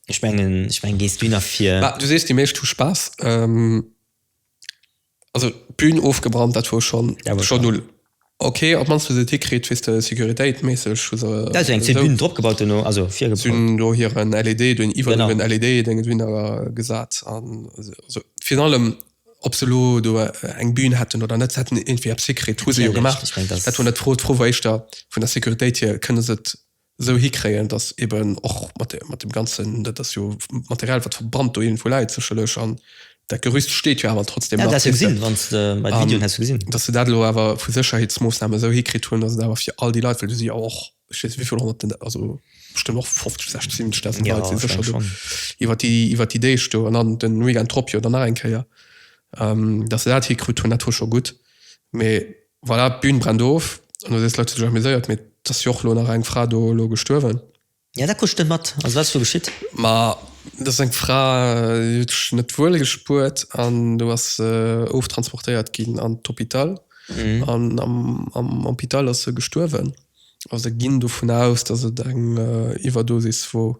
ich mengen ich mein gehst du nach vier du siehst die Milch du Spaß ähm, also Bühnen aufgebrannt dat war schon, ja, war schon null Ok, op mannst wou se et hikritt, weess de, securitéit méisseg hu se Dat ass jo eng zéng Bünen drop gebaut duerno, also virgebaut. Si hunn do hiren LED, do hunn iwwerall hiren LED Dénge drun gesat an esou. Virun allem ob se elo do eng Bün hätten oder net, se hätten iergendwéi eppes hikritt, hu se jo gemaach. Dat war net d'Fro, d'Fro war éischter vun der Securitéit hier, kënne se et esou hikréien, datt eben och mat mat dem ganzen, dat ass jo Material wat verbrannt do irgendwou läit sécherlech an dat Gerüst steet jo awer trotzdem nach, weess de, an datt se dat elo awer vu Sécherheetsmoossnamen esou hikritt hunn, datt et awer fir all déi Leit, well do si jo och, ech weess net wéivill honnerten, also bestëmmt och 50, 60, 70 dausend Leit si sécher do iwwert déi iwwert déi Deeg do an dann de Weekend drop jo dann nach eng Kéier, datt se dat hikrut hunn, dat hu scho gutt, mee Voilà, d'Bühn brennt of. An do sees de Leit, Huet sech amuséiert, mee et ass jo och elo nach eng Fra do elo gestuerwen. Ja, dat krutsch net mat. Also, wat ass do geschitt? Ma dat ass eng Fra, déi huet sech net wuel gespuert an do ass se oftransportéiert ginn an d'Hôpital. An am Hôpital ass se gestuerwen. Also ginn dovun aus, dass et eng Iwwerdosis wor.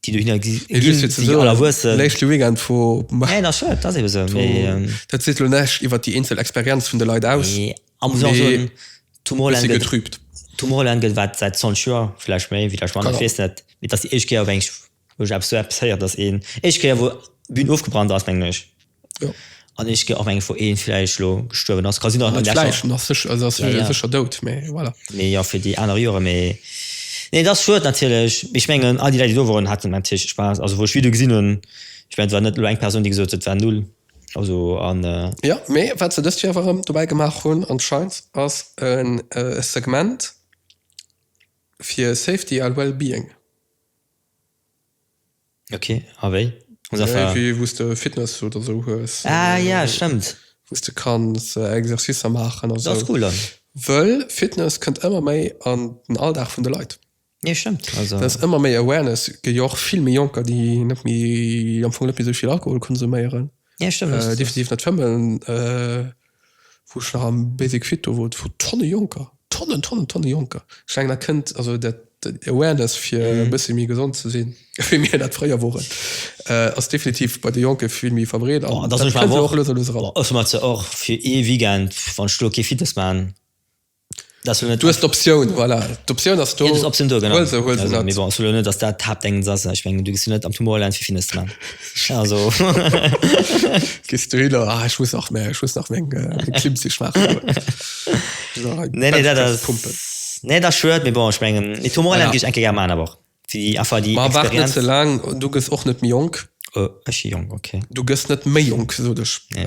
déi do hinner gi- Mee just fir ginn, ze déi soen, Allerwuessen. Leschte Weekend vu Mar Nee, dat stimmt, dat ass ebe sou. vu Mee, ähm, dat seet elo näischt iwwer déi eenzel Experienz vun de Leit aus. mee a muss och Mee soen, e Tomorrowland bëssi gëtt, getrübt. Tomorrowland gëtt wat säit 20 Joer, vläicht méi, vläicht manner, ech Genau. weess net. Mee et ass déi éischt Kéier, wou eng, wou ech eppes, wou ech eppes héier, dass een, éischt Kéier wou d'Bün ofgebrannt ass, mengen ech. Jo. An ech ginn och mengen, wou ee vläicht elo gestuerwen ass, ka sinn, datt en läscht. Vläicht, en ass sécher, also ass sécher, sécher dout, mä voilà. Mee jo, fir déi aner Joren, mee nee, et ass schued natierlech. Mee ech mengen, all déi Leit, déi do woren, haten natierlech Spaass. Also wou ech Videoe gesinn hunn, ech mengen, et war net elo eng Persoun, déi gesot huet, et war null. Also an. Jo, mee wat se dëst Joer awer erëm dobäi gemaach hunn anscheinend, ass e Segment fir Safety a Well-being. Ok, a wéi? An der Salle? Wéi wou s de Fitness oder sou hues. Ah jo, stëmmt. Wou s de kanns Exercicer maachen a sou. Dat ass cool dann. Wëll Fitness kënnt ëmmer méi an den Alldag vun de Leit. Nee, stëmmt. Also. Dat ass ëmmer méi Awareness. Gëtt jo och vill méi Jonker, déi net méi, am Fong net méi esou vill Alkohol konsuméieren. Jo, stëmmt. Definitiv net fëmmen. wou ech nach am Basic Fit do wor, et wor Tonne Jonker, Tonnen, Tonnen, Tonne Jonker. Ech mengen, dat kënnt, also dat, déi Awareness, fir e bëssi méi gesond ze sinn, wéi mir dat fréier woren, ass definitiv bei de Jonke vill méi verbreet an dat kënnt elo och lues a lues eran. Ech hunn mer zwar och fir ee Weekend, wann ech do kee Fitness maachen, dass net dues d'Optioun voilà d'Optioun ass do Optioun do genau also huel se net bon solo net dass dat hab denken sass ech mengen du gesi net am Tumor lens wie findest du dann also gist du hilo ah ech muss nach mehr ech muss nach meng Klim ze schwaachen nee nee dat ass Pumpen nee da schued mir bon ech mengen die Tumor lens gich enke ger man aber die affer die war war net ze lang du gëss och net mi jonk ech si jonk okay du gëss net méi jonk gesoot ech nee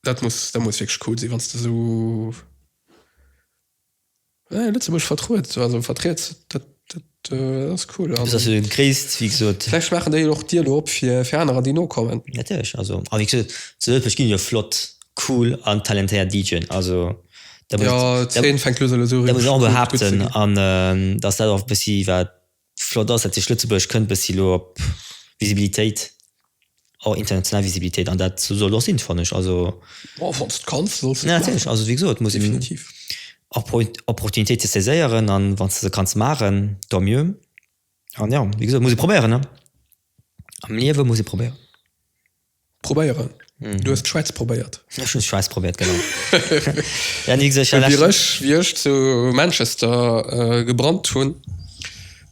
Dat muss dat muss wierklech cool sinn, wann s de esou Lëtzebuerg vertruet, also vertriets. Dat dat ass cool. An vläicht maachen déi och d'Dier elo op fir fir anerer, déi nokommen. Natierlech. Also a wéi gesot, zu Ëlfecht ginn jo flott, cool an talentéiert DJen. Also da muss ech da muss ech awer behaapten, dass dat och e bëssi wat Flott ass, datt sech Lëtzebuerg kënnt bëssi elo op Visibilitéit, och international Visibilitéit, an dat soll och sinn, fannen ech. Also. Bon, wann s de kanns, solls de et maachen. Natierlech, also wéi gesot, muss een och Opportunitéite saiséieren, a wann s de se kanns maachen, tant mieux. An jo, wéi gesot, muss ee probéieren, ne? Am Liewe muss ee probéieren. Probéieren. Mm. Du hast Schweiz probéiert. Ja, schon Schweiz probiert genau. ja, nie gesagt, ja, wie, ich, wie ich zu Manchester äh, gebrannt hun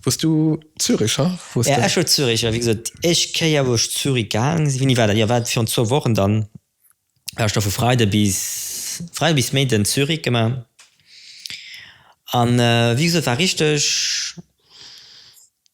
wost du Zürich ha? Ja, ich Zürich ja, wie gesagt, ich keier wo ich Zürich gang wie nie weiter ja, war schon zwei Wochen dann war ich da vu Freide bis frei bis Mä den Zürich gemacht an äh, wie gesagt, war richtig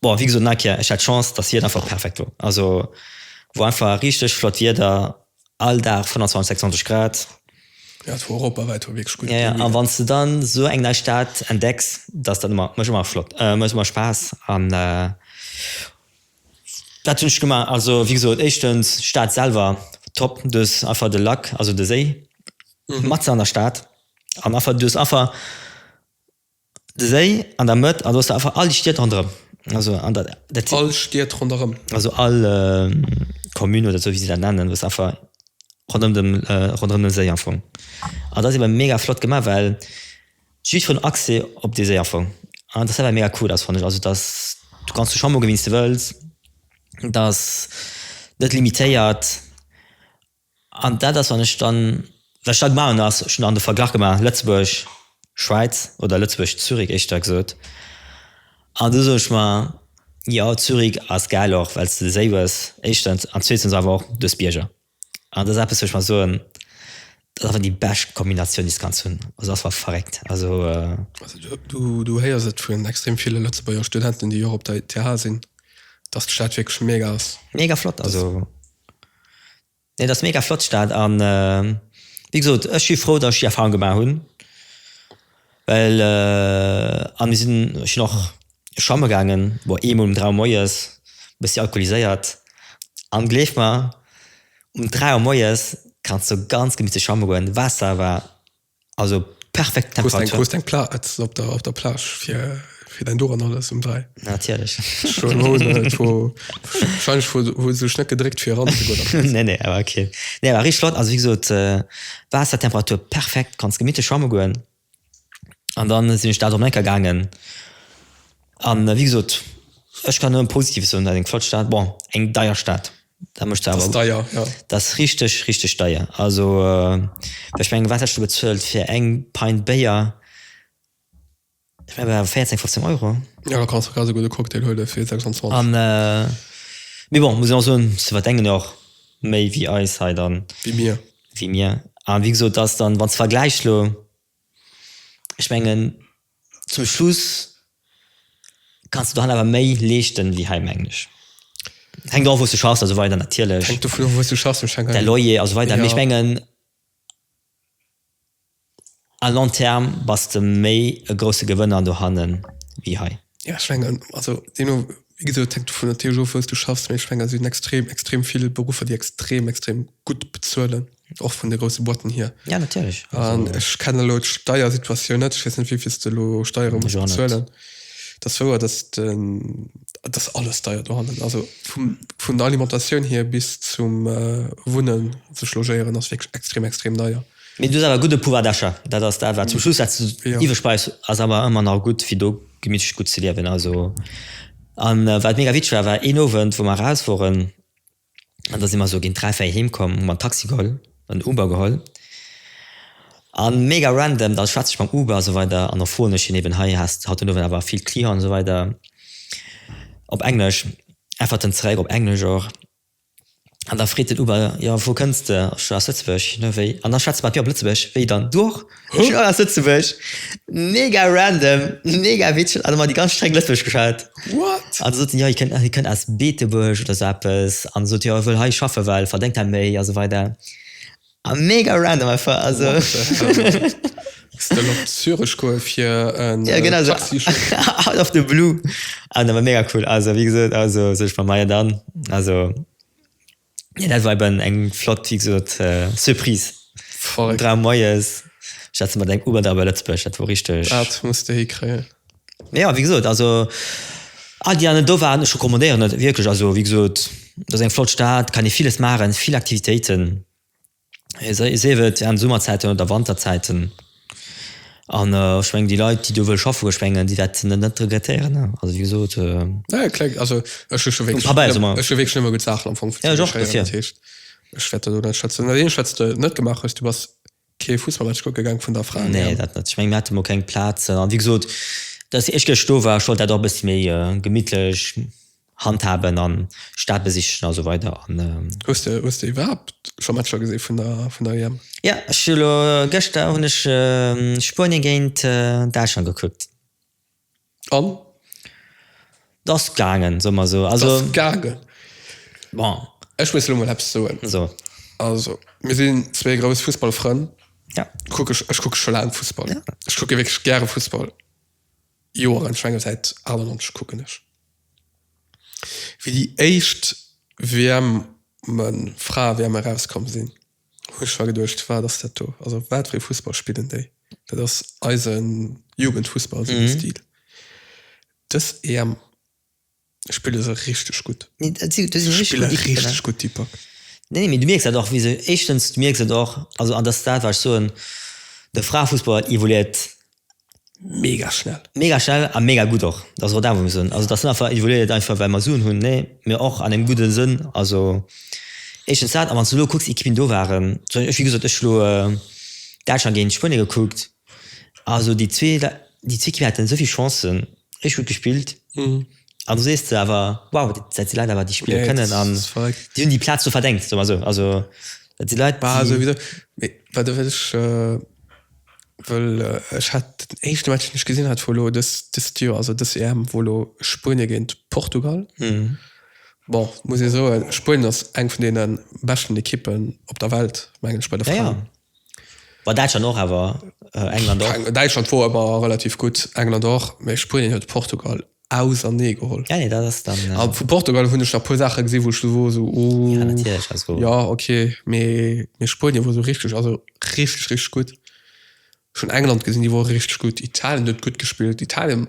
Bon, wéi gesot, nach eng Kéier, ech hat d'Chance, dass d'Wieder einfach perfekt wor. Also wor einfach richteg flott Wieder, all Dag 25, 26 Grad. Jo, et wor europawäit wor wierklech gutt. Jo, jo, a wann s de dann esou eng nei Stad entdecks, dass dat ëmmer, mécht ëmmer flott, mécht ëmmer Spaass an dat hunn ech gemaach. Also wéi gesot, éischtens d'Stad selwer top, du hues einfach de Lac, also de Séi matzen an der Stad an einfach, du hues einfach De Séi an der Mëtt an do hues de einfach all déi Stied ronderëm. Also an dat dat sinn. All Stied ronderëm. Also all Commune oder esou wéi se dat nennen, hues de einfach ronderëm dem ronderëm dem Séi am Fong. An dat ass eben mega flott gemaach, well jiddferen Accès op dee Séi am Fong. An dass dat awer mega cool ass fannen ech. Also dass du kanns do schwamme goen wéi s de wëlls. Dat ass net limitéiert. An dat ass, wann ech dann, wat ech da gemaach hunn, ass, ech hunn dann de Verglach gemaach Lëtzebuerg, Schwäiz, oder Lëtzebuerg, Zürich éischter gesot. An du soe ech mer, jo, Zürich ass gäil, och well s de de Séi hues, éischtens, an zweetens awer och duerch d'Bierger. An dat ass eppes, wou ech mer soen, dat ass einfach déi bescht Kombinatioun, déi s de kanns hunn. Also dat ass einfach verréckt. Also. Also du héiers et vun extrem ville Lëtzebuerger Studenten, déi och op der ETH sinn, dass d'Stad wierklech mega ass. Mega flott, also. Nee, dat ass mega flott d'Stad an wéi gesot ech si frou dat ech déi Erfahrung gemaach hunn well a mir sinn ech sinn och schwamme gaangen boah eemol um 3 Auer moies bëssi alkoholiséiert an gleef mer um 3 Auer moies kanns du ganz gemittlech schwamme goen, Waasser war Also perfekt Temperatur. Krust eng Plaatz op der, op der Plage fir, fir dein Duran alles um 3. Natierlech. Schon hoen et wo, wahrscheinlich wo, wo sech net gedréckt fir ran ze goen. nee, nee, awer okay. Nee, awer rich flott, also wie gesot, äh, Waassertemperatur perfekt, kanns gemittlich schwamme goen. An dann sinn ech da Domenica gaangen. An wéi gesot, ech kann nëmme Positives soen, dat eng flott Stad, bon eng deier Stad, dat mécht se awer. Dat ass deier, jo. Dat ass richteg, richteg deier. Also ech mengen, wat häss du bezuelt fir eng Pint Béier? Ech mengen awer 14, 15 Euro. Jo, da kanns de ganz e gudde Cocktail huele fir 26. An, mee bon, muss een och soen, se verdengen jo och méi wéi eis hei dann. Wéi mir. Wéi mir. A wéi gesot, dat ass dann, wann s de vergläichs elo, ech mengen. zum Schluss kanns de dohan awer méi leeschten wéi hei mengen ech. Hänkt och of wou's de schaffs an esou weider natierlech. Hänkt dovun of wou's de schaffs, ech denken. Däi Loyer an esou weider, mee ech mengen à long terme bass de méi e grousse Gewënner dohannen wéi hei. Jo ech mengen also deemno wéi gesot et hänkt dovun natierlech of wou's de schaffs, mee ech mengen et sinn extrem extrem vill Beruffer déi extrem extrem gutt bezuelen. och vun de grosse Boiten hier. Ja natierlech. An ech kenne lo d'Steiersituatioun net, ech weess net wéivill de lo Steiere muss bezuelen. Dat wouer dat ass alles deier dohannen. Also vum vun der Alimentatioun hier bis zum äh Wunnen sech logéieren ass wierklech extrem extrem deier. Mee du hues awer e gudde Pouvoir d'achat, dat ass dat wat zum Schluss wat de iwwreg bleifs ass awer ëmmer nach gutt fir do gemitteg gutt ze liewen. Also an wat mega witzeg war war een Owend wou mer eraus woren, An da si mer esou géint dräi, véier heem komm, hu mer en Taxi geholl, en Uber geholl. A mega random, da schwätze ech mam Uber esou weider an da froen ech hien eben, hei has haut den Owend awer vill Clienten esou weider, op Englesch, äntwert en zeréck op Englesch och. An da freet den Uber, jo vu wou kënns de? Ech sou, aus Lëtzebuerg. Hien, Wéi? An da schwätze mer mat mir op Lëtzebuergesch, Wéi dann, du och? Hä? Joer aus Lëtzebuerg. Mega random, mega witzeg, an emmer déi ganz streng Lëtzebuergesch geschwat. What? An da sot en, jo hie kënnt, hie kënnt aus Beetebuerg oder sou eppes, an da sot hie, jo hie wëll hei schaffen, well verdéngt hei méi a sou weider. A mega random einfach, also. What the hell? Still op Zürech goe fir en Taxi-Chauffeur? Ja genau, out of the blue. An awer mega cool, also wéi gesot, also sot ech mer, majo dann, also. Ja, dat war eben eng flott, wéi gesot, Surprise. Voll. Dräi moies, ech hat se mat engem Uber da bei Lëtzbuerg, dat wor richteg. Dat muss de hikréien. Mee jo, wéi gesot, also all déi aner do waren, ech recommandéieren et wierklech. Also wéi gesot, dat ass eng flott Stad, kann ee villes maachen, vill Aktivitéiten. sief et an Summerzäiten oder Wanterzäiten an ech meng déi Leit déi do wëlle schaffen ech mengen déi wäerten dat net regrettéieren ne, also wéi gesot nee dat net, ech meng mir hate mol keng Plazen an wéi gesot dass ech gëscht do war, ech wollt dat och e bëssi méi gemittlech. Handhaben an Staat besichen a sou weider an. Hues de hues de iwwerhaapt scho Matcher gesinn vun der vun der EM? Jo, ech hu lo gëschter hunn ech Spuenien géint Däitschland gekuckt. An? T'ass gaangen, soe mer sou. Also. T'ass gaangen. Bon. Ech muss lo mol eppes soen. So. Also, mir sinn zwee grouss Fussballfrënn. Ja. Kucke ech kucke scho laang Fussball. Ja. Ech kucke wierklech gäre Fussball. Joer an Schwengel säit 98 kucken ech wéi déi éischt WM en Frae WM erauskomm sinn hunn ech war geduecht wat ass dat do also wat fir ee Fussball spillen déi dat ass eisen Jugendfussball sou de Stil dës EM. Spille se richteg gutt. Nee, dat si, dat si richteg Spille gutt Ekippen, ne? richteg gutt, déi Pak. Nee, nee, mee du mierks dat och, wéi se, éischtens, du mierks et och, also, an dat ass dat, wat ech soen, de Fraefussball evoluéiert Mega schnell. mega schnell a mega gutt och. Dat ass och dat, wat mir soen. Also, dat ass net einfach, evoluéiert et einfach, well mer Suen hunn, nee, mee och an engem gudde Sënn. Also, éischtens dat, a wann s du elo kucks, Ekippen do waren, zum Beispill, ech, wéi gesot, ech elo Däitschland géint Spuenie gekuckt, Also déi zwee déi zwee Kippen haten esou vill Chancen, richteg gutt gespillt an do sees de awer, wow, dat si Leit awer déi spille kënnen an déi hunn déi Plaz do verdengt, soe mer esou. Also dat si Leit, déi. Mee wat ech wëllt wëll, ech hat den éischte Match deen ech gesinn hat vu elo dëst Joer, also dës EM, wor elo Spuenie géint Portugal. Bon, muss ee soen, Spuenien ass eng vun deene beschten Ekippen op der Welt mengen ech bei de Fraen. War Däitschland och awer, England och? Däitschland wor ëmmer relativ gutt, England och, mä Spuenien huet Portugal ausernee geholl. Ja, nee, dat ass dann. A vu Portugal hunn ech nach e puer Saache gesi wou ech wor esou, oh. Ja, natierlech, also. Ja, ok, mee Spuenien wor esou richteg, also richteg, richteg gutt. Ech hunn England gesinn, déi wore richteg gutt. Italien huet gutt gespillt. Italien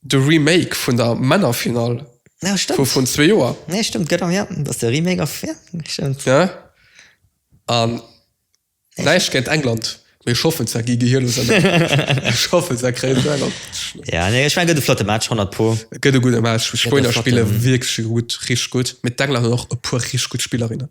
De Remake vun der Männerfinall vu vrun zwee Joer. Nee, stëmmt, genau, jo, dat ass de Remake a fir, stëmmt. Ja, an näischt géint England, mee ech hoffen, dat gi gehir loossen. Ech hoffen, dat kréien se an d'Schnëss. Ja, nee, ech mengen, gëtt e flotte Match, honnert pro. Gëtt e gudde Match. D'Spuenier spille wierklech gutt, richteg gutt, mee d'Engländer hunn och e puer richteg gutt Spillerinnen.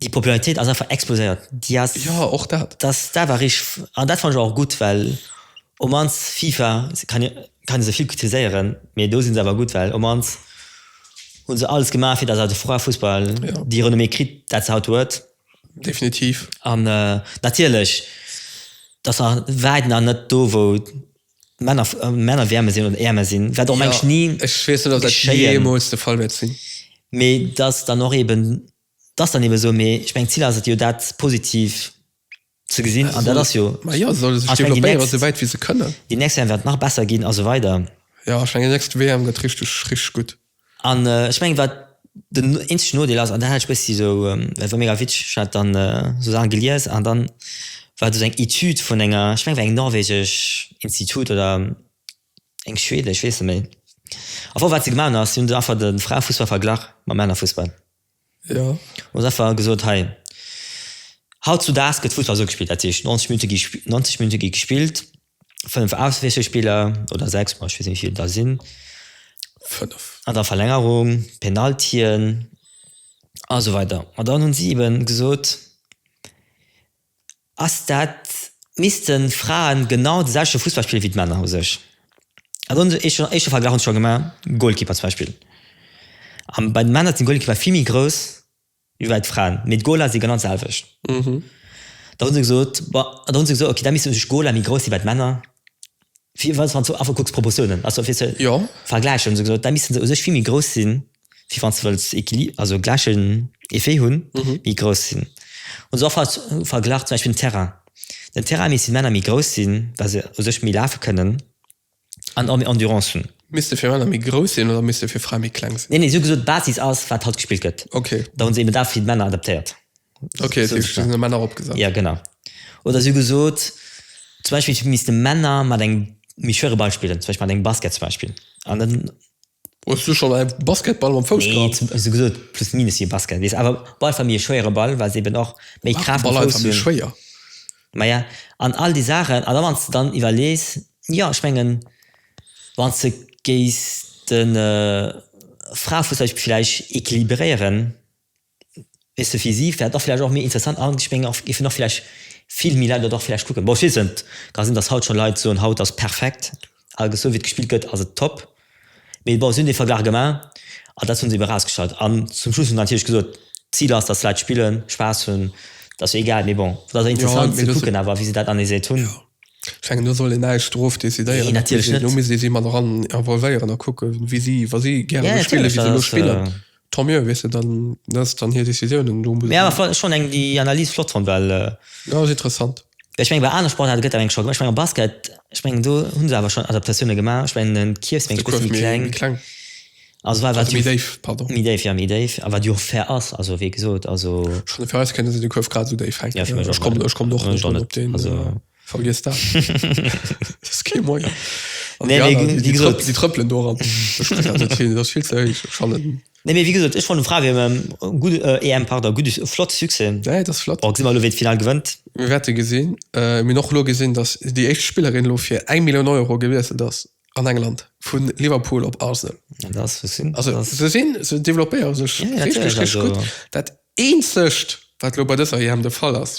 Déi Popularitéit ass einfach exploséiert. Déi ass. Jo, och dat. Dass dat war richteg. An dat fannen ech awer och gutt, well op mannst FIFA, kann ee, kann ee se vill kritiséieren, mee do si se awer gutt, well op mannst hu se alles gemaach, fir dass awer de Fraefussball déi Renommée kritt, dat se haut huet. Definitiv. An natierlech, dat ass nach wäit nach net do, wou Männer Wärme sinn oder Äerme sinn, wat och mengt ni geschéien. Ech weess net, ob dat jeemools de Fall wäert sinn. Mee dat ass dann och eeben, dat ass dann eebe sou. Mee ech mengen, d'Zil ass et jo, dat positiv ze gesinn. An dat ass jo. Ma jo, se solle sech developpéieren, esou wäit wéi se kënnen. Déi nächst WM wäert nach besser ginn a sou weider. Jo, ech mengen, déi nächst WM gëtt richteg, richteg gutt. An ech mengen, wat den eenzegen Nodeel ass, an dat hat ech bëssi esou, dat war mega witzeg, ech hat dann esou Saachen gelies an dann war do esou eng Etüd vun enger, ech mengen, et war eng norwegesch Institut oder eng schwedesch, ech weess net méi. Au fond, wat se gemaach hunn ass, si hunn einfach de Fraefussball verglach mam Männerfussball. Hun einfach gesot hey haut zu daags gëtt Fussball sou gespillt, dat heescht 90 Minutte gi 90 Minutte gi gespillt, 5 Auswiesselspiller oder 6 bon ech weess net wéivill et der sinn, an der Verlängerung, Penaltien a sou weider. An dann hunn si eben gesot, ass dat missten Fraen genau de selwechte Fussball spillen wéi d'Männer u sech. Also hunn ech schonn éischte Verglach hunn ech scho gemaach, Goalkeeper zum Beispill. An bei de Männer sinn d'Goalkeeper vill méi grouss wéi bei d'Fraen, mee d'Goaler si genau d'selwecht. Da hunn se gesot, bon, da hunn se gesot, okay, da missten u sech d'Goaler méi grouss si wei d'Männer, fir wann s du einfach kucks d'Proportiounen, also fir ze vergläichen, hunn se gesot, da missten se u sech vill méi grouss sinn wie wann du willst Equilibre, also gleichen Effet hun mhm. wie groß sinn. Und so verglacht zum Beispiel den Terrain. Den Terrain misst Männer méi groß sinn, weil se sech méi lafe können an auch méi Endurance hun. Misste fir Männer méi groß sinn oder misste fir Fra méi kleng sinn? Nee, nee, so gesot Basis ass wat halt gespielt gëtt. Okay. Da hun se eben da fir Männer adaptéiert. Okay, so, so, so Männer opgesat. Ja genau. Oder so gesot zum Beispiel misste Männer mat eng méi schwere Ball spielen, zum Beispiel mat engem Basket zum Beispiel. An dann Hues du schonn e Basketball mam Fouss gehatt? Nee, sou gesot plus minus wéi e Basket, weess. Awer Ball ass méi e schwéiere Ball, well se eben och méi Kraaft am Fouss hunn. Ball ass einfach méi schwéier. Maja, an all déi Saachen. An da wann s de dann iwwerlees, jo, ech mengen, wann s de géis de Fraefouss vläicht equilibréieren, Et ass fir si vläicht och vläicht och méi interessant an ech mengen och géifen och vläicht vill méi Leit dat och vläicht kucken. Bon, ech weess et net, ka sinn, datt haut scho Leit soen, haut ass perfekt, al gesou, wéi et gespillt gëtt ass et top. Mee bon, si hunn dee Verglach gemaach an dat hunn si ebe rausgestallt. An zum Schluss hunn se natierlech gesot, d'Zil ass, datt d'Leit spillen, Spaass hunn, dat ass jo egal. Mee bon, et ass awer interessant ze kucken awer, wéi se dat analyséiert hunn. Ech mengen, do soll een näischt dorof decidéieren. Nee, natierlech net. Do misst ee si mat eran involvéieren a kucken, wéi si, wa si gäre sou spillen, wéi se elo spillen, Tant mieux, weess de, dann ass et dann hir Décisioun. Mee awer flott, ech fond eng déi Analyse flott fond, well. Jo, ass interessant. Ech mengen bei anere Sportaarte gëtt dat mengen scho gemaach. Ech mengen am Basket, ech mengen do hu se awer schon Adaptatioune gemaach. Ech mengen den Kierf ass mengen ech e bësse méi kleng. Also war wat méi déif, pardon. Méi déif, jo méi déif. A wat jo och fair ass, also wéi gesot, also. Schonn fir eis kënne se de Kuerf grad esou déif hänken. Jo fir mech och. Ech kommen och net op deen. Also. Vergiss dat. Dat ass kee Moien. An Nee, déi mee aner, déi, déi wie trëpp, gesot. déi trëppelen do ran. Ech spille dat net hin, dat ass vill ze héich. Ech kann net. Nee, mee wéi gesot, ech fannen Frae WM en gudde, äh, EM, pardon, gudde, Su- flott Succès. Nee, dat ass flott. Bon, gesi mer elo, wee d'Final gewënnt. Mir wäerte gesinn. Äh, mir hunn och elo gesinn, datt déi éischt Spillerin elo fir eng Millioun Euro gewiesselt ass an England, vu Liverpool op Arsenal. An dat ass, wou sinn, Also, dat ass, se sinn, se developpéiere sech ja, ja, richteg, natierlech, richteg also, gutt. Dat eenzegt, wat elo bei dëser EM de Fall ass,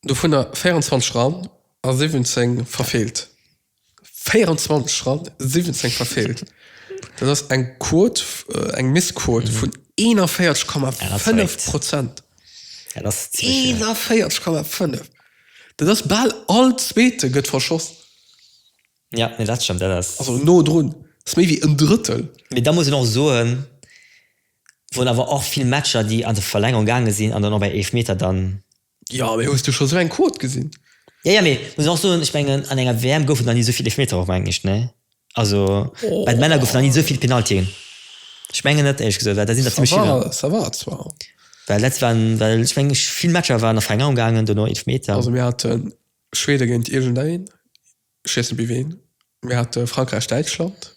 dovunner 24 ran a 17 verfeelt. 24 ran, 17 verfeelt. Dat ass eng Quot, eng Missquot vun 41,5 Prozent. Dat ass zimmlech vill. 41,5! Dat ass bal all Zweete gëtt verschoss. Jo, nee dat stëmmt, dat ass. Also no drun. Dat ass méi wéi en Drëttel. Mee da muss een och soen. Wor awer och vill Matcher déi an de Verlängerung gaange sinn an dann och bei Eelfmeter dann. Jo mee hues du scho sou eng Quot gesinn? Jo jo mee muss och soen ech mengen an enger WM goufen nach ni souvill Eelfmeter och mengen ech ne also bei de Männer goufen nach ni souvill Penaltien ech mengen net éierlech gesot well da sinn der zimlech vill an Ça va zwar. Well letzt waren well ech mengen ech vill Matcher waren an Verlängerung gaangen dono Eelfmeter. Also mir haten Schweden géint iergend een ech weess net bi ween mir hate Frankräich Däitschland.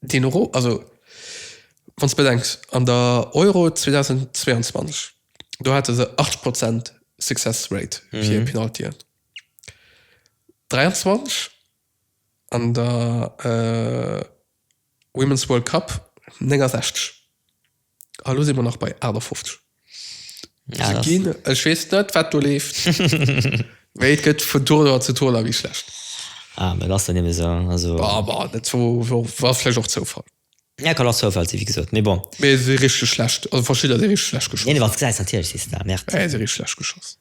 Deen Euro, also wann s de bedenks an der Euro 2022, do hate se 80 Prozent Success Rate fir Penaltyen, 23 an der Women's World Cup 69. Ah, lo si mer nach bei 58. Ja, Se das- ginn, ech weess net, wat do leeft. Mee et gëtt vun Tournoi zu Tournoi méi schlecht. Ah, mä dat ass dann eben esou. Also, Awer net zo, wo- war vläicht och Zoufall. ja, kann och Zoufall sinn, wéi gesot. Mee bon. Mee si richteg schlecht, also verschidder si richteg schlecht Nee, geschoss. wat gesäis natierlech, si se da. Merde. Mä si richteg schlecht geschoss.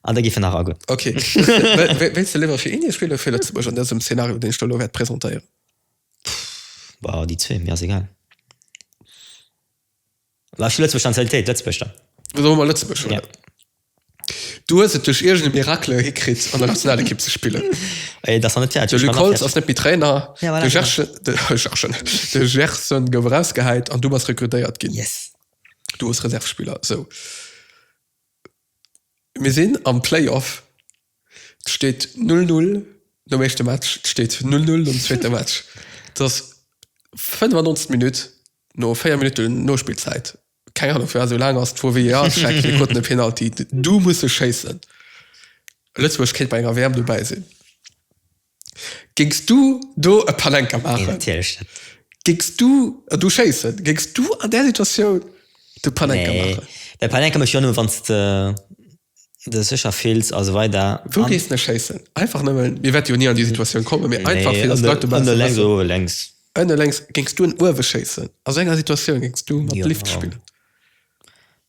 An da giff en nach agoen. Ok. Wéilts de léiwer fir Indien spillen oder fir Lëtzebuerg an dësem Szenario, deen ech do elo wäert presentéieren? Bah, déi zwee, mir ass egal. Bah, ech hu Lëtzebuerg Nationalitéit, Lëtzebuerg dann. Da soe mer Lëtzebuerg, oder? Yeah. Du hues et duerch iergend e Miracle hikritt, an der Nationalekipp ze spillen. Et ass nach net fäerdeg. De Luc Holtz ass net méi Trainer. Ja, voilà, de Gerschen, de Gerschen, de Gerson gouf erausgehäit an du bass rekrutéiert ginn. Yes. Du hues Reservespiller, sou. Mir sinn am Playoff. Et steet null null nom éischte Match. Et steet null null nom zweete Match. Et ass 95 Minutt, no 4 Minutten Nospillzäit. Keng Anung, firwat esou laang ass. De VAR-Check, mir kruten e Penalty. Du musse schéissen. Lëtzebuerg kéint bei enger WM dobäi sinn. Géings du do e Panenka maachen? Nee, natierlech net. Géings du do schéissen? Géings du an där Situatioun de Panenka maachen? Nee. Mä Panenka méchs du jo nëmmen, wann s de dech sécher fills a sou weider. Wou géiss de schéissen? Einfach nëmmen, mir wäerte jo ni an déi Situatioun kommen, mee einfach fir datt d'Leit e bësse wëssen. Ënne lenks oder uewe lenks? Ënne lenks. Géings du en uewe schéissen? A sou enger Situatioun géings du mat Lift spillen?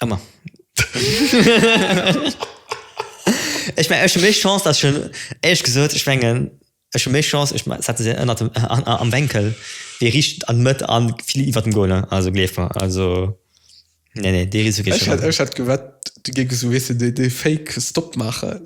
Emmer. Ech mengen, ech hu méi Chance, datt ech en, éierlech gesot, ech mengen, ech hu méi Chance, ech setze se ënnert dem, am Wenkel, wéi riicht an d'Mëtt a vill iwwert dem Goal, ne? Also gleef mer, also, nee, nee, dee Risiko geet ech net an. Ech hätt gewett, du géif esou, weess de, dee fake Stop maachen.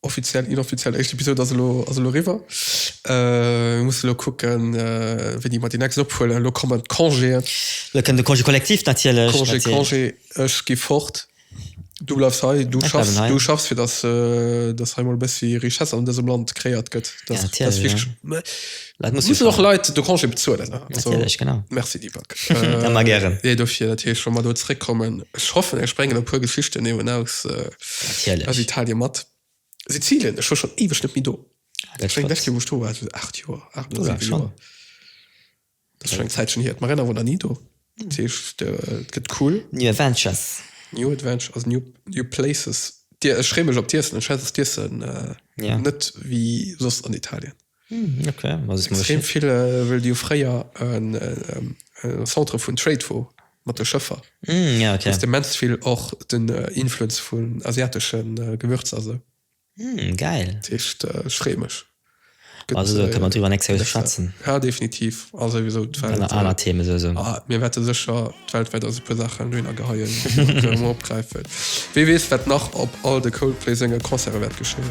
Offiziell, inoffiziell éischt Episode ass elo ass elo eriwwer. Mir musse elo kucken, wéini mer déi nächst ophuelen. Elo kommen d'Congéen. Elo kënnt de Congé collectif natierlech. Congé, Congé, ech gi fort. Du bleifs hei, du schaffs, du schaffs, fir datt, datt hei emol e bëssi Richesse an dësem Land crééiert gëtt. Dat ass wichteg. Leit muss muss och Leit de Congé bezuelen genau Merci Deepak ëmmer gären nee dofir dat hir schon mal do zréck kommen ech hoffen ech bréngen e puer Geschichten eben aus aus Italien mat Sizilien ech war schon eweg net méi do dat schéngt echt wou ech do war 8 Joer 8 oder 7 Joer dat schon eng Zäitchen hier d'Marina war nach ni do dat heescht et gëtt cool New Adventures New Adventures also new new places dir ech free mech op d'Iessen ech weess dass d'Iessen net wéi soss an Italien. Hm, ok extrem vill äh, well Dir fréier en äh, Centre vun Trade wo mat de Schëffer mm, ja, okay. de mens vill och den äh, Influenz vun asiateschen äh, Gewürz also mm, geil Tischcht äh, schremesch also äh, kann man drüber nächste Woche schwätzen ja definitiv also sowieso aller Themen so, so. Ah, mir werden sicher weltweit also paar Sachen Döner geheien abgreifen wie weiß wird nach ob all de Coldplay Sänger Konzerte wird geschehen